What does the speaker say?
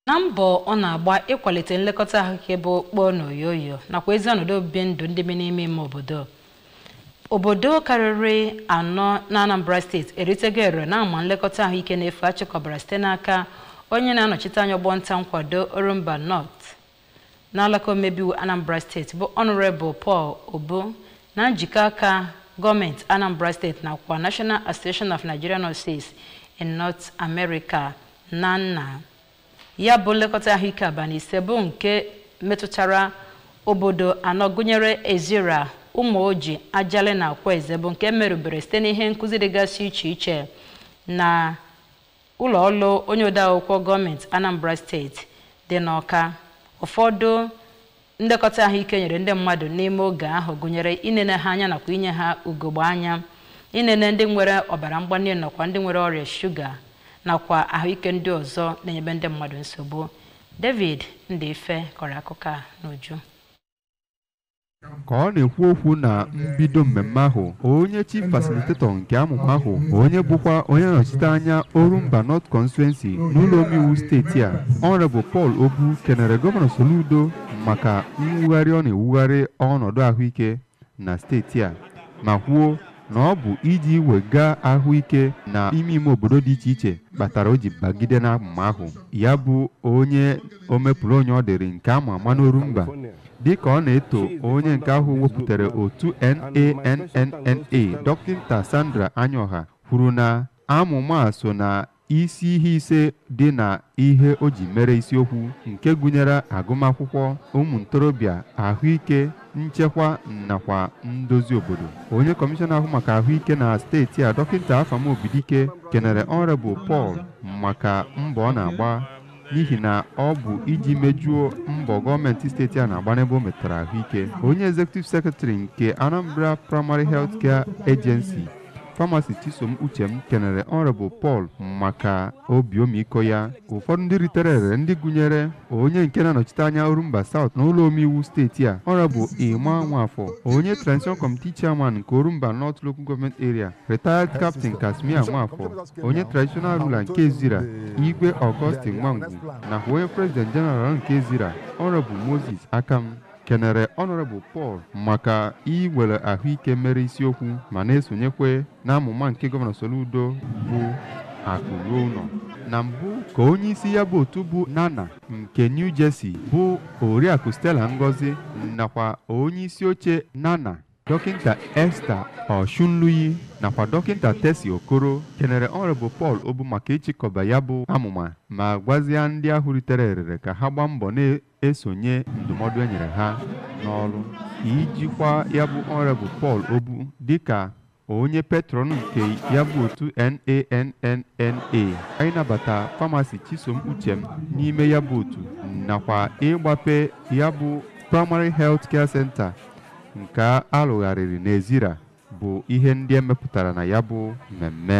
na mbọ ọ na-agba ịkwalite nlekọta ahụike bụ okpoo na oyoyo nakwa ezi ọnọdụ obibi ndụ ndị bi n'ime ime obodo obodo karịrị anọ na Anambra steeti eritego erere na amụma nlekọta ahụike na-efu a chịkọbara site n'aka onye na-anọchite anya ọgbọ nta nkwado Orumba North n'alaka omebe iwu anambra steeti bụ honorable paul obu na njikọ aka gọọmenti anambra steeti nakwa national association of nigerian nurses in north america nannna ya bụ nlekọta ahụike abalị ise bụ nke metụtara obodo anọ gụnyere ezira ụmụoji ajali na akwaeze bụ nke merubere site n'ihe nkụzi dịgasị iche iche na ụlọ ọrụ onye odeakwụkwọ gọọmenti Anambra steeti dị n'Ọka ụfọdụ nlekọta ahụike e nyere ndị mmadụ n'ime oge ahụ gụnyere inene ha anya nakwa inye ha ugogbe anya inene ndị nwere ọbara mgbali nakwa ndị nwere ọrịa shuga nakwa ahụike ndị ọzọ na-enyebe ndị mmadụ nsogbu David Ndịife kọrọ akụkọ a n'uju ka ọ na-ekwu okwu na mbido mmemme ahụ onye chief facilitator nke amụma ahụ onye bụkwa onye nọchite anya orumba north constituency n'ụlọ omeiwu steeti a honorable paul obu kenere gọvanọ soludo maka mwugharị ọ na-ewugharị ọnọdụ ahụike na steeti a ma kwuo na ọ bụ iji wega ahụike na ime ime obodo dị iche iche kpatara o ji bagide n'amụma ahụ ya bụ onye omepụrụ onye ọ dịrị nke a ma ama n'orumba dịka ọ na-eto onye nke ahụ wepụtara otu NANNNA dọkịta Sandra Anyoha kwuru na amụma a so na isi ihe ise dị na ihe o ji mere isiokwu nke gụnyere agụmakwụkwọ ụmụ ntorobịa ahụike nchekwa nakwa ndozi obodo onye kọmishọna na-ahụ maka ahụike na steeti a dọkịta Afam Obidike kenere Honorable Paul maka mbọ ọ na-agba n'ihi na ọ bụ iji mejuo mbọ gọọmenti steeti a na-agba n'ebe o metara ahụike onye executive secretary nke anambra primary health care agency pharmacist chisom uchem kenere honorable paul maka obi omiko ya ụfọdụ ndị ritere ere ndị gụnyere onye nke na-anọchite anya orumba south na ụlọ omeiwu steeti a honorable emma nwafọ onye transition committee chairman nke orumba north local government area retired captain casmir nwafọ onye traditional ruler nke Ezira Igwe Augustine Nwangwu nakwa onye president general nke Ezira Honorable Moses Akam kenere Honorable Paul maka iwere ahụike mere isiokwu ma na-esonyekwe n'amụma nke gọvanọ Soludo bụ akụ ruo ụlọ na mbụ ka onye isi ya bụ otu bụ NANNNA nke New Jersey bụ oriakụ Stella Ngozi nakwa onye isi oche NANNNA Dọkịnta Esther Ọshunluyi nakwa Dọkịnta Tesi Okoro kenere Honourable Paul Obu maka ịchịkọba ya bụ amụma ma gwazịa ndị ahụ ritere erere ka ha gbaa mbọ na-esonye ndụmọdụ e nyere ha n'ọrụ ijikwa ya bụ Honourable Paul Obu dịka onye patron nke ya bụ otu NANNNA ịnabata Pharmacist Chisom Uchem n'ime ya bụ otu nakwa ịgbape ya bụ Primary Health Care Center Nke a lụgharịrị n'Ezira bụ ihe ndị e mepụtara na ya bụ mmemme.